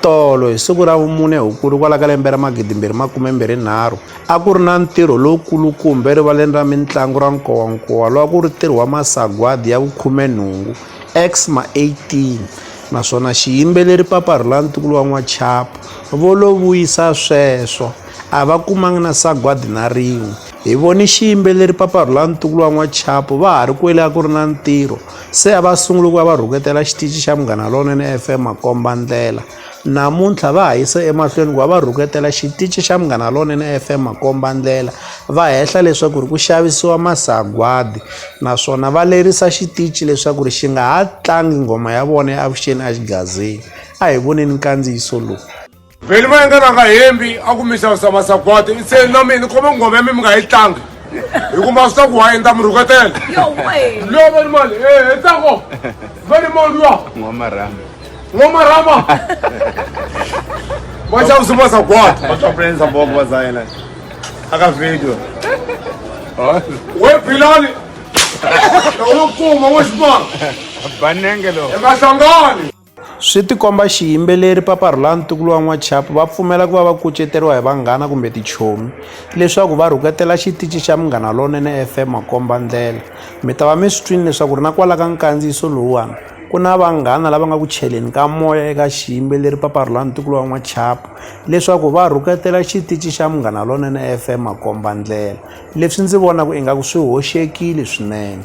Tolo hi siku ra vumune Hukuri kwala ka lembe ra 2023, a ku ri na ntirho lowukulukumba erivaleni ra mintlangu ra Nkowankowa lowu a ku ri ntirho wa masagwadi ya vukhumenhungu, Xma 18, naswona xiyimbeleri Papa Rhula ntukulu wa N'wachapu, vo lo vuyisa sweswo, a va kumanga na sagwadi na rin'we. Hi vone xiyimbeleri Papa Rhulani Ntukulu wa N'wachapo va ha ri kwele a ku ri na ntirho se a va sungule ku va va rhuketela xitichi xa Munghana Lonene FM makomba ndlela. Namuntlha va ha yise emahlweni ku va va rhuketela xitichi xa Munghana Lonene FM makomba ndlela va hehla leswaku ri ku xavisiwa masagwadi naswona va lerisa xitichi leswaku ri xi nga ha tlangi nghoma ya vona ya Avuxeni Axigazini. A hi voneni nkandziyiso lowu. vheli va yengana nga hembi a ku misa sa masagwadi i se na mina khome nghoma ya mi mi nga yi tlangi hi ku ma swi ta ku wa endla mi rhuketela yo veni mali e eh, hetako eh, veni moliwa n'wamarama n'wamarama va xavisi masagwadi va swa prensa boko va zayela a ka video we philani loko kuma wo xipano banenge lowu emahlangani Swi tikomba xiyimbeleri Papa Rhulani Ntukulu wa N'wachapu va pfumela ku va va kuceteriwa hi vanghana kumbe tichomi leswaku va rhuketela xitici xa Munghana Lonene FM makombandlela. Mi ta va mi swi twile leswaku ri na kwala ka nkandziyiso lowuwani ku na vanghana lava nga ku cheleni ka moya eka xiyimbeleri Papa Rhulani Ntukulu wa N'wachapu leswaku va rhuketela xitici xa Munghana Lonene FM makombandlela. Leswi ndzi vonaka ingaku swi hoxekile swinene.